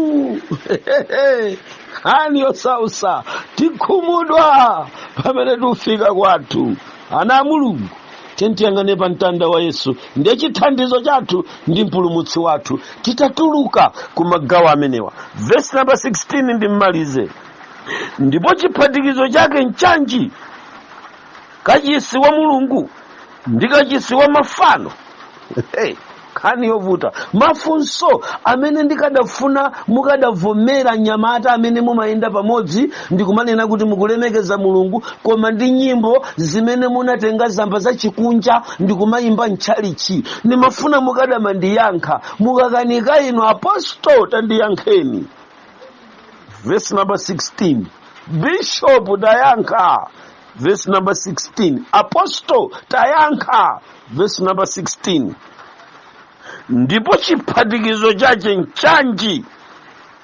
A: nkhani yosautsa tikhumudwa pamene tikufika kwathu ana a Mulungu tiyeni tiyang'ane pa mtanda wa Yesu ndiye chithandizo chathu ndi mpulumutsi wathu titatuluka ku magawo amenewa vesi namba 16 ndimmalize ndipo chiphatikizo chake nchanji kachisi wa Mulungu ndi kachisi wa mafano hey. nkhani yovuta mafunso amene ndikadafuna mukadavomera nyamata amene mumayenda pamodzi ndikumanena kuti mukulemekeza mulungu koma ndi nyimbo zimene munatenga zamba zachikunja ndikumayimba mtchalitchi ndimafuna mukadamandiyankha mukakanika inu apostol tandiyankheni verse number 16 bishopu tayankha verse number 16 apostle tayankha verse number 16 ndipo chiphatikizo chache nchanji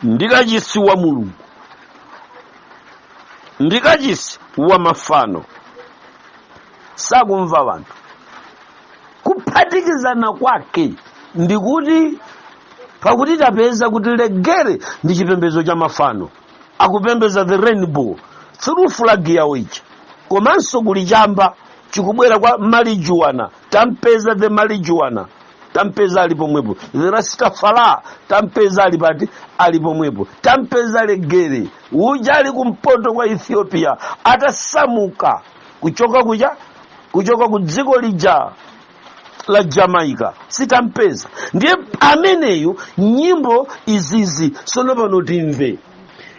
A: ndi kachisi wa mulungu ndi kachisi wa mafano sakumva wanthu kuphatikizana kwake ndikuti pakuti tapeza kuti legere ndi chipembedzo cha mafano akupembeza the rainbow through flag yawo ija komanso kuli chamba chikubwera kwa marijuana tampeza the marijuana tampeza ali pomwepo the rastafala tampeza ali pati ali pomwepo tampeza legere uja ali kumpoto kwa ethiopia atasamuka kuchoka kuja kuchoka ku dziko lija la jamaica sitampeza ndiye ameneyu nyimbo izizi tsono pano timve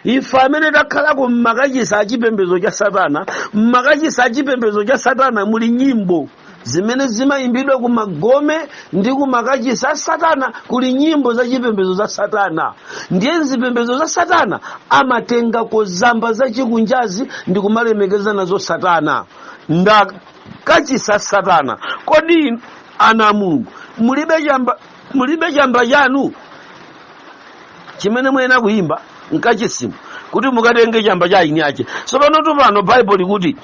A: ife amene takhalako mmakachisa achipembedzo cha satana mmakachisa achipembedzo cha satana muli nyimbo zimene zimayimbidwa ku magome ndi ku makachisa a satana kuli nyimbo za chipembedzo za satana ndiye mzipembedzo za satana amatengako zamba za chikunjazi ndi kumalemekeza nazo satana nda kachisi a satana kodi ana a mulungu mulibe chamba chanu chimene muyenera kuyimba mkachisimu kuti mukatenge chamba cha eni ache tsopanotu pano baibulo likuti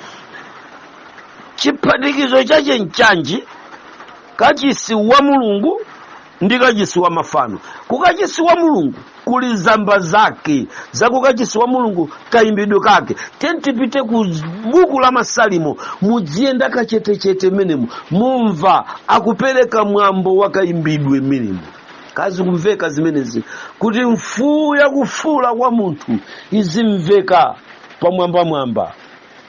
A: chiphatikizo chache nchanji kachisi wa mulungu ndi kachisi wa mafano kukachisi wa mulungu kuli zamba zake za kukachisi wa mulungu kayimbidwe kake tiyeni tipite ku buku la masalimo mudziyenda kachetechete mmenemo mumva akupereka mwambo wa kayimbidwe mmenemo kazi kumveka zimenezi kuti mfuu yakufuula kwa munthu izimveka pamwambamwamba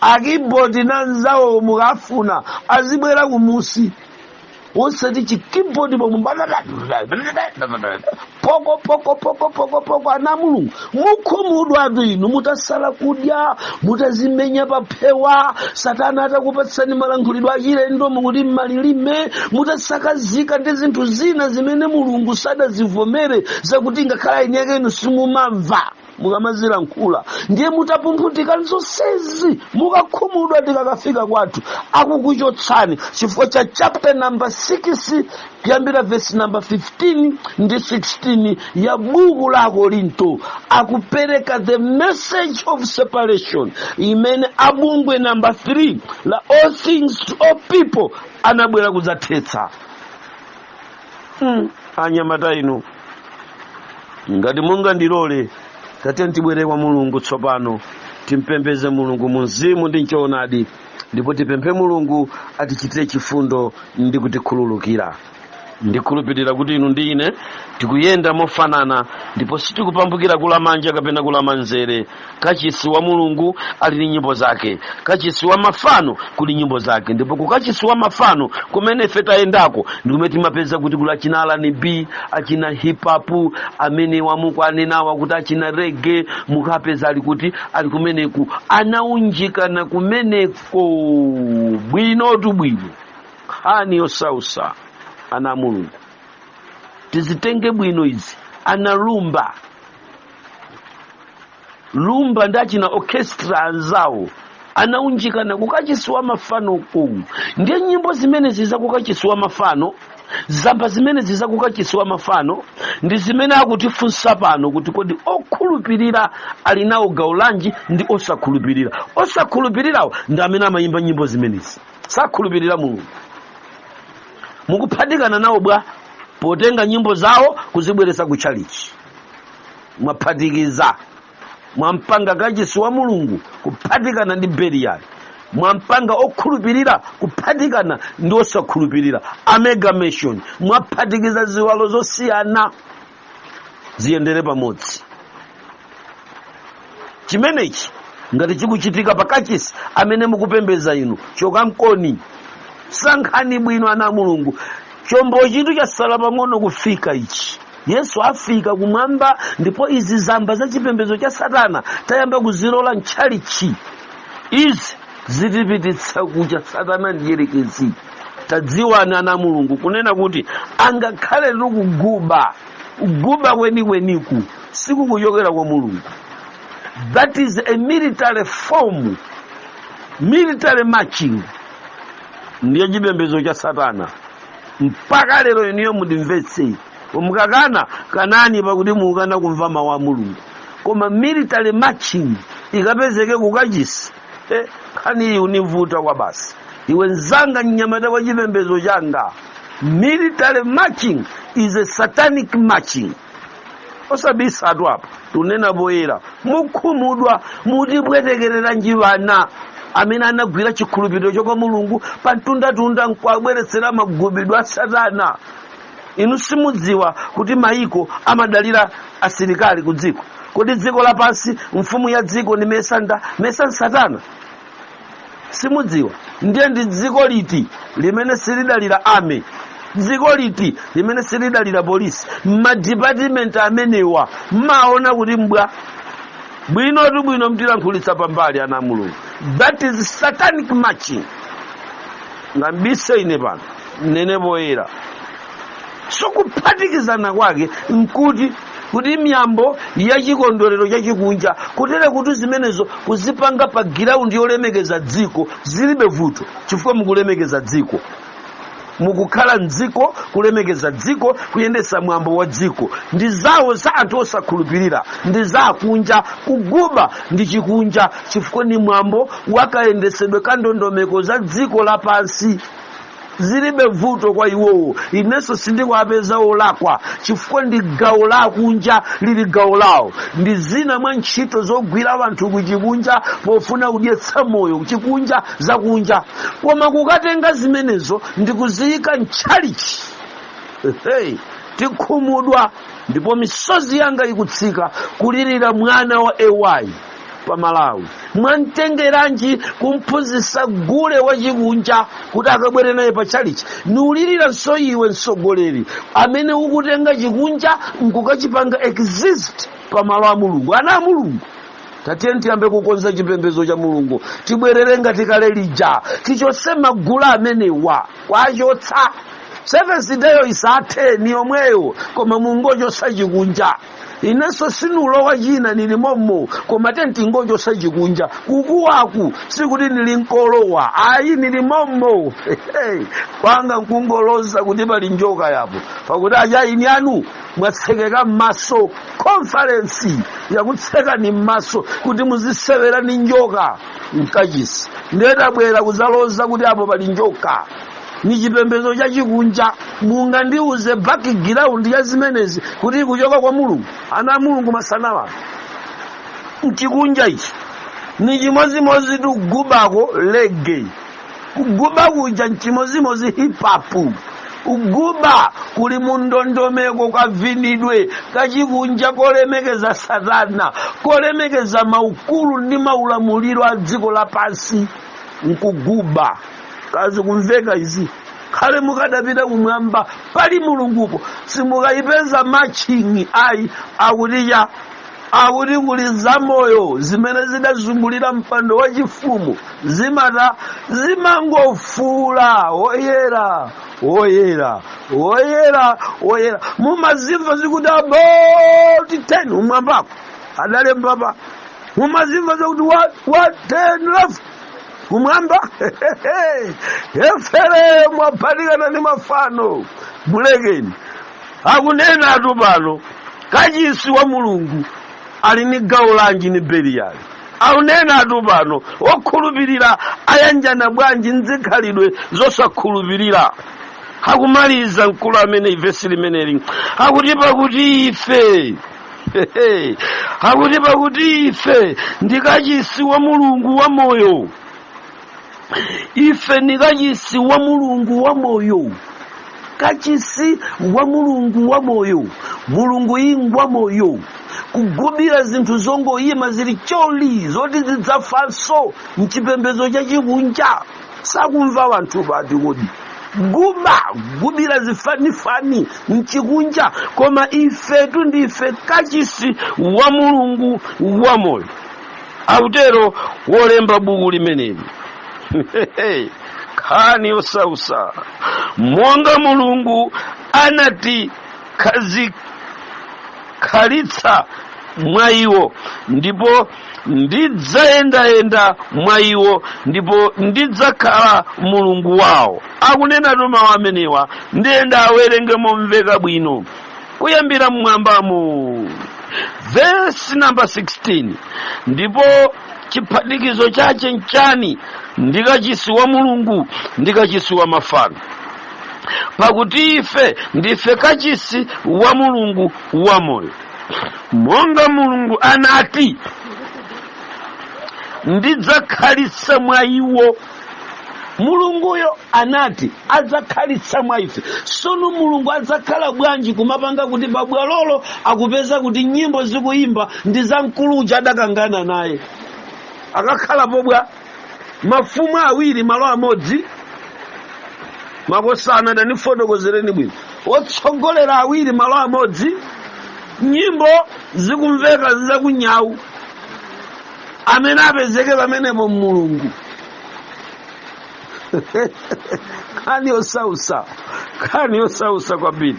A: akibodi na nzawo mukafuna azibwera kumunsi osati chikibodi pomwe poko poko poko poko poko ana mulungu mukhumudwatu inu mutasala kudya mutazimenya paphewa satana atakupatsani malankhulidwe achilendo mukuti mmalilime mutasakazika ndi zinthu zina zimene mulungu sadazivomere zakuti ngakhale eni ake inu simumamva mukamazilankhula ndiye mutapumphunthika nzonsezi mukakhumudwa tikakafika kwathu akukuchotsani chifukwa cha chapter number 6 kuyambira vesi namba 15 ndi 16 ya buku la akorinto akupereka the message of separation imene abungwe namba 3 la all things to all people anabwera kudzathetsa anyamata inu ngati mungandilole tatiyeni tibwere kwa mulungu tsopano timpembeze mulungu mu mzimu ndi mchoonadi ndipo tipemphe mulungu atichitire chifundo ndi kutikhululukira ndikhulupirira kuti inu ndi ine tikuyenda mofanana ndipo sitikupambukira kulamanja kapena kulamanzere kachisi wa mulungu ali ndi nyimbo zake kachisi wa mafano kuli nyimbo zake ndipo ku kachisi wa mafano kumene ife tayendako ndi kumene timapeza kuti kuli achina R&B achina hip hop amene wamuku anenawa kuti achina rege mukapeza ali kuti ali kumeneku anaunjikana kumeneko bwinotu bwino nkhani yosausa ana a mulungu tizitenge bwino izi ana rumba rumba ndi achina orchestra anzawo anaunjikana kukachisi wa mafano uku ndiye nyimbo zimenezi za kukachisi wa mafano zamba zimenezi za kukachisi wa mafano ndi zimene akutifunsa pano kuti kodi okhulupirira ali nawo gawo lanji ndi osakhulupirira osakhulupirirawo ndi amene amayimba nyimbo zimenezi sakhulupirira mulungu mukuphatikana nawo bwa potenga nyimbo zawo kuzibweretsa kutchalitchi mwaphatikiza mwampanga kachisi wa mulungu kuphatikana ndi beliyali mwampanga okhulupirira kuphatikana ndi osakhulupirira amalgamation mwaphatikiza ziwalo zosiyana ziyendere pamodzi chimenechi ngati chikuchitika pa kachisi amene mukupembeza inu chokankoni sankhani bwino ana a mulungu chombochitu chasala pang'ono kufika ichi yesu afika kumwamba ndipo izi zamba za chipembedzo cha satana tayamba kuzilola mtchalitchi izi zitipititsa kucha satana mdyerekezi tadziwani ana a mulungu kunena kuti angakhale ndi kuguba kuguba kwenikweniku sikukuchokera kwa mulungu that is a military form military marching ndi ya chipembedzo cha satana mpaka lero ineyo mundimvetse mukakana kanani pakuti mukukana kumva mawu a mulungu koma military marching ikapezeke kukachisi Eh, nkhani yonivuta kwabasi iwe nzanga mnyamata wa chipembedzo changa military marching is a satanic marching osabisatu apa tunena poyera mukhumudwa mutipwetekereranji wana amene anagwira chikhulupiriro cha kwa mulungu pa mtundatunda nkwabweretsera magubidwe a satana inu simudziwa kuti maiko amadalira asilikali ku dziko kodi dziko lapansi mfumu ya dziko ndimesa nda mesa nsatana simudziwa ndiye ndi dziko liti limene silidalira army dziko liti limene silidalira polisi madipatimenti amenewa mmaona kuti mbwa bwinotu bwino mtilankhulitsa pambali ana a mulungu that is satanic marching ningabise ine pano nene poyera so kuphatikizana kwake nkuti kuti miyambo ya chikondwerero chachikunja kutere kuti zimenezo kuzipanga pa giraundi yolemekeza dziko zilibe vuto chifukwa mukulemekeza dziko mukukhala mdziko kulemekeza dziko kuyendesa mwambo wa dziko ndi zawo za anthu osakhulupirira ndi za akunja kuguba ndi chikunja chifukwa ni mwambo wakayendesedwe ka ndondomeko za dziko lapansi zilibe vuto kwa iwowo inenso sindikuwapeza olakwa chifukwa ndi gawo la kunja lili gawo lawo ndi zina mwa ntchito zogwira wanthu kuchikunja pofuna kudyetsa moyo chikunja zakunja koma kukatenga zimenezo ndi kuziyika mtchalichi hey, tikhumudwa ndipo misozi yanga ikutsika kulirira mwana wa AY pa malawi mwamtengeranji kumphunzitsa gule wachikunja kuti akabwere naye pa tchalichi niuliriranso iwe mtsogoleri amene ukutenga chikunja nkukachipanga exist pa malo a mulungu ana a mulungu tatiyeni tiyambe kukonza chipembedzo cha mulungu tibwerere ngati kale lija tichotse magule amenewa kwachotsa Seventh Day-yo isathe ni yomweyo koma mungochotsa chikunja inenso sinulowa china nili mommo koma tiyeni tingochotsa chikunja kukuwaku sikuti nili nkolowa ayi nili mommo kwanga nkungoloza kuti pali njoka apo pakuti aja ini anu mwatsekeka m'maso konfarensi yakutsekani m'maso kuti muzisewera ni njoka mkachisi nde tabwera kuzaloza kuti apo pali njoka ni chipembedzo chachikunja mungandiuze background ya zimenezi kuti ikuchoka kwa mulungu ana a mulungu masanawa mchikunja ichi ni chimodzimodzi tikugubako reggae kuguba kuja nchimodzimodzi hip hop kuguba kuli mundondomeko kavinidwe kachikunja kolemekeza satana kolemekeza maukulu ndi maulamuliro a dziko lapansi nkuguba kazikumveka izi khale mukadapita kumwamba pali mulungupo simukayipeza marching'i ayi akuti cha akuti kuli zamoyo zimene zidazungulira mpando wa chifumu zimata zimangofuula woyera woyera woyera woyera mumazimva zikuti about turn umwambako adalembapa mumazimva zakuti wa, wa turn left kumwamba efere mwaphatikana ndi mafano mulekeni akunena atu pano kachisi wa mulungu ali ni gawo lanji ni beliyali akunena atu pano okhulupirira ayanjana bwanji nzikhalidwe zosakhulupirira akumaliza mkulu ameneyi vesi limeneli akuti pakuti ife akuti pakuti ife ndi kachisi wa mulungu wa moyo ife ni kachisi wa mulungu wa moyo kachisi wa mulungu wa moyo mulungu ingwa moyo kugubira zinthu zongoyima zili choli zoti zidzafanso mchipembedzo chachikunja sakumva wanthu pati kodi guba gubira zifanifani nchikunja koma ifetu ndife kachisi wa mulungu wa moyo akutero wolemba buku limeneli khani yosausa monga mulungu anati khalitsa mwa iwo ndipo ndidzayendayenda mwa iwo ndipo ndidzakhala mulungu wawo akunena mawu amenewa ndiye ndawerenge momveka bwino kuyambira mmwambamo vesi namba 16 ndipo chiphatikizo chache nchani ndi kachisi wa mulungu ndi kachisi wa mafano pakuti ife ndife kachisi wa mulungu wamoyo monga mulungu anati ndidzakhalitsa mwa iwo mulunguyo anati adzakhalitsa mwa ife sono mulungu adzakhala bwanji kumapanga kuti pabwalolo akupeza kuti nyimbo zikuyimba ndi za mkulu uja adakangana naye akakhala pobwa mafumu awiri malo amodzi makosana tandifotokozereni bwino otsogolera awiri malo amodzi nyimbo zikumveka zakunyawu amene apezeke pamenepo mulungu nkhani yosausa nkhani yosausa kwambiri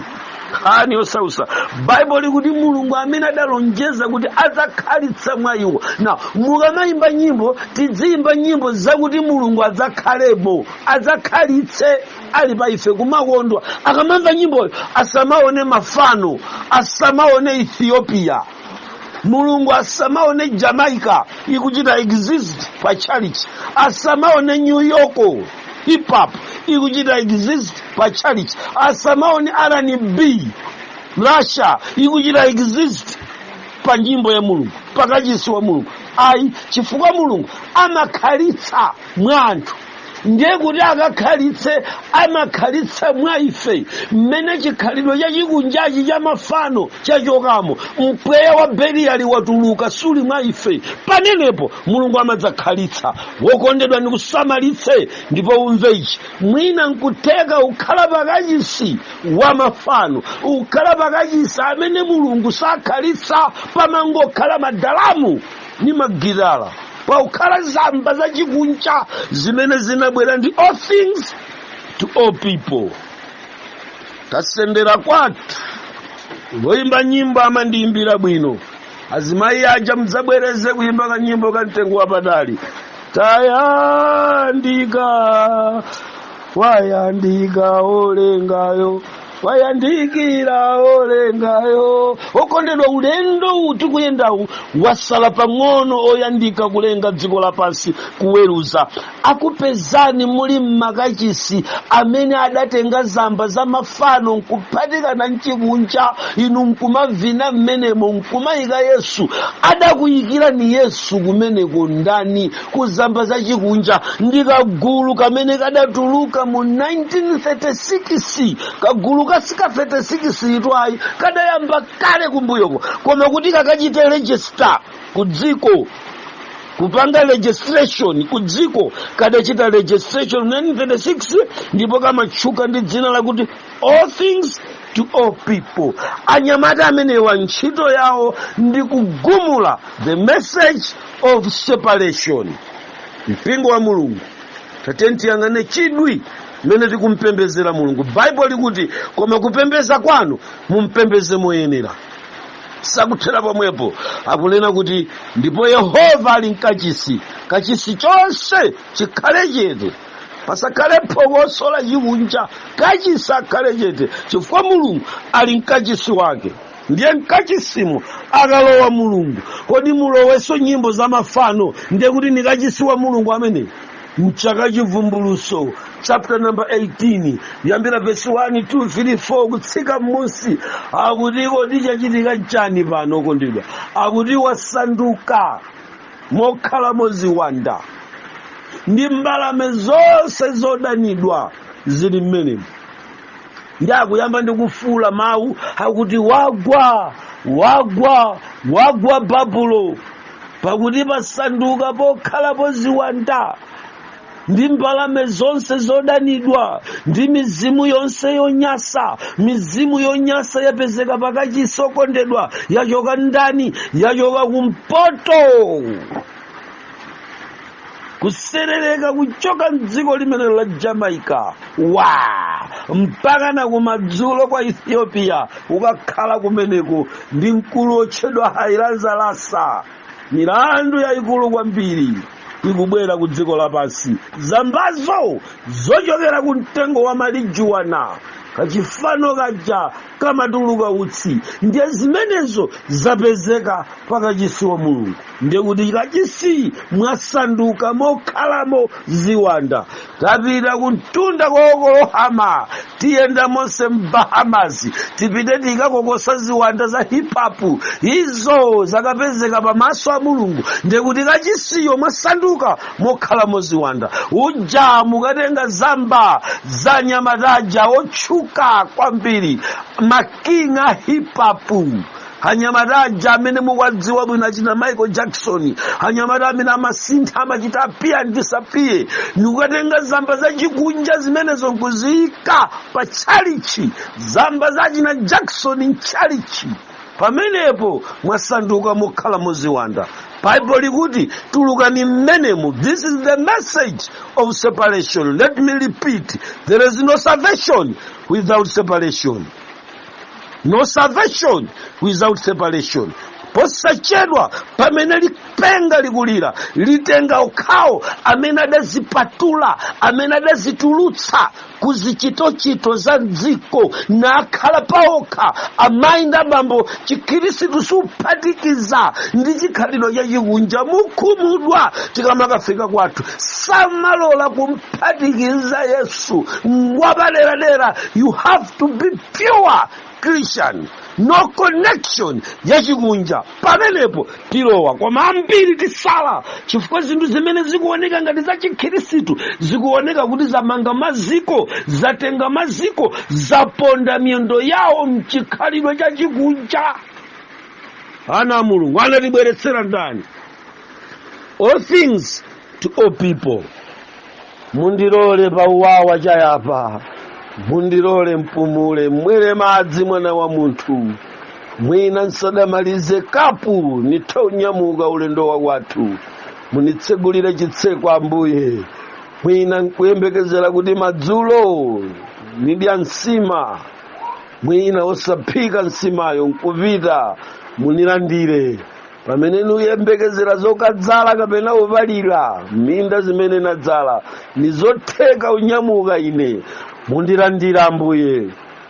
A: nkhani yosausa baibulo likuti mulungu amene adalonjeza kuti adzakhalitsa mwa iwo na mukamayimba nyimbo tidziyimba nyimbo zakuti mulungu adzakhalemo adzakhalitse ali pa ife kumakondwa akamamva nyimboyo asamaone mafano asamaone ethiopia mulungu asamaone jamaica ikuchita exist pa church asamaone new york hip hop ikuchita exist pa church asamaone rnb russia ikuchita exist pa nyimbo ya mulungu pakachisi wa mulungu ayi chifukwa mulungu amakhalitsa mwa anthu ndiye kuti akakhalitse amakhalitsa mwa ife mmene chikhalidwe chachikunjachi cha mafano chachokamo mpweya wa beliyali watuluka suli mwa ife pamenepo mulungu amadzakhalitsa wokondedwa ndikusamalitse ndipo umve ichi mwina nkutheka ukhala pakachisi wa mafano ukhala pakachisi amene mulungu sakhalitsa pamangokhala madalamu ni magitala pakukhala zamba zachikunja zimene zinabwera ndi all things to all people tasendera kwathu woyimba nyimbo amandiyimbira bwino azimayi aja mdzabwereze kuyimba kanyimbo ka mtengo wapatali tayandika wayandika olengayo wayandikira olengayo okondedwa ulendo uwu tikuyendawu wasala pang'ono oyandika kulenga dziko lapansi kuweruza akupezani muli mmakachisi amene adatenga zamba za mafano nkuphatikana mchikunja inu nkumavina mmenemo nkumayika yesu adakuyikirani yesu kumeneko ndani kuzamba za chikunja ndi kagulu kamene kadatuluka mu 1936 kagulu kasika 36 itwayi kadayamba kale kumbuyoko koma kuti kakachite register ku dziko kupanga registration ku dziko kadachita registration 1936 ndipo kamatchuka ndi dzina lakuti all things to all people anyamata amenewa ntchito yawo ndi kugumula the message of separation mpingo wa mulungu tatiyeni tiyang'ane chidwi mmene tikumpembezera mulungu baibulo likuti koma kupembeza kwanu mumpembeze moyenera sakuthera pomwepo akunena kuti ndipo yehova ali mkachisi kachisi chonse chikhale chete pasakhale phokoso la chikunja kachisi akhale chete chifukwa mulungu ali mkachisi wake ndiye mkachisimo akalowa mulungu kodi mulowenso nyimbo za mafano ndiye kuti ndi kachisi wa mulungu ameneyo mchaka chivumbulutso chapter number 18 yambira vesi 1 2 3 4 kutsika m'munsi akuti kodi chachitika chani pano okondedwa akuti wasanduka mokhalamo ziwanda ndi mbalame zonse zodanidwa zili mmenemo ndi akuyamba ndi kufuula mawu akuti wagwa wagwa wagwa babulo pakuti pasanduka pokhalapo ziwanda ndi mbalame zonse zodanidwa ndi mizimu yonse yonyasa mizimu yonyasa yapezeka pakachisi okondedwa yachoka ndani yachoka kumpoto kuserereka kuchoka mdziko limene la jamaica mpakana kumadzulo kwa ethiopia ukakhala kumeneko ndi mkulu wotchedwa haile selassie milandu yayikulu kwambiri ikubwera ku dziko lapansi zambazo zochokera ku mtengo wa marijuana kachifano kaja kamatuluka utsi ndiye zimenezo zapezeka pakachisi wa mulungu ndikuti kachisi mwasanduka mokhalamo ziwanda tapita kumtunda kwa oklahoma tiyenda monse mbahamas tipite tikakokosa ziwanda za hip hop izo zakapezeka pamaso a mulungu ndikuti kachisiyo mwasanduka mokhalamo ziwanda uja mukatenga zamba za anyamata aja otchuka kwambiri ma king a hip hop anyamata aja amene mukuwadziwa bwino achina michael jackson anyamata amene amasintha amachita appear and disappear nikukatenga zamba zachikunja zimenezo nkuziyika pa tchalitchi zamba za achina jackson mtchalitchi pamenepo mwasanduka mokhalamo ziwanda bible likuti tulukani mmenemo this is the message of separation let me repeat there is no salvation without separation no salvation without separation posachedwa pamene lipenga likulira litenga okhawo amene adazipatula amene adazitulutsa ku zichitochito za dziko nakhala paokha amayi ndi abambo chikhirisitu suphatikiza ndi chikhalidwe chachikunja mukhumudwa tikamakafika kwathu samalola kumphatikiza yesu ngwapaderadera you have to be pure christian no connection yachikunja pamenepo tilowa koma ambiri tisala chifukwa zinthu zimene zikuoneka ngati za chikhirisitu zikuoneka kuti zamanga maziko zatenga maziko zaponda miyendo yawo mchikhalidwe cha chikunja ana a mulungu anatibweretsera ndani all things to all people mundilole pauwawa chayapa mundilole mpumule mmwere madzi mwana wa munthu mwina nsadamalize kapu nitha unyamuka ulendo wa kwathu munitsegulire chitseko ambuye mwina nkuyembekezera kuti madzulo nidya nsima mwina osaphika nsimayo nkupita munilandire pamene nuyembekezera zokadzala kapena upalira minda zimene nadzala nizotheka unyamuka ine mundilandire ambuye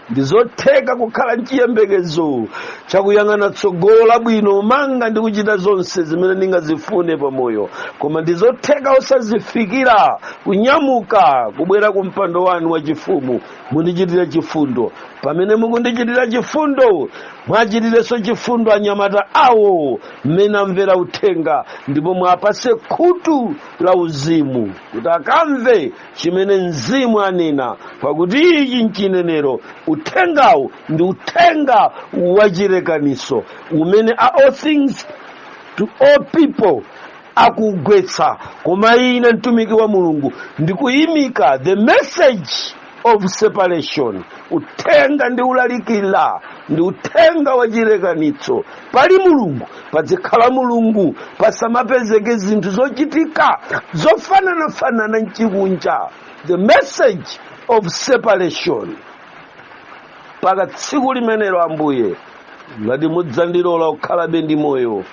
A: ndizotheka kukhala nchiyembekezo chakuyang'ana tsogolo labwino manga ndi kuchita zonse zimene ndingazifune pamoyo koma ndizotheka osazifikira kunyamuka kubwera ku mpando wanu wachifumu mundichitire chifundo pamene mukundichitira chifundo mwachitirenso chifundo anyamata awo mmene amvera uthenga ndipo mwapase khutu la uzimu kuti akamve chimene mzimu anena pakuti ichi nchinenero uthengawu ndi uthenga wachirekanitso umene a all things to all people akugwetsa koma ine mtumiki wa mulungu ndikuyimika the message of separation uthenga ndiulalikira ndi uthenga wa chilekanitso pali mulungu padzikhala mulungu pasamapezeke zinthu zochitika zofananafanana nchikunja the message of separation mpaka tsiku limenelo ambuye ngati mudzandilola kukhalabe ndi moyo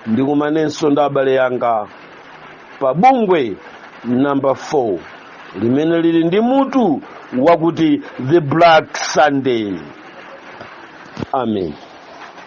A: ndikumanenso ndi abale yanga pa bungwe namba 4 limene lili ndi mutu wakuti the black sunday amen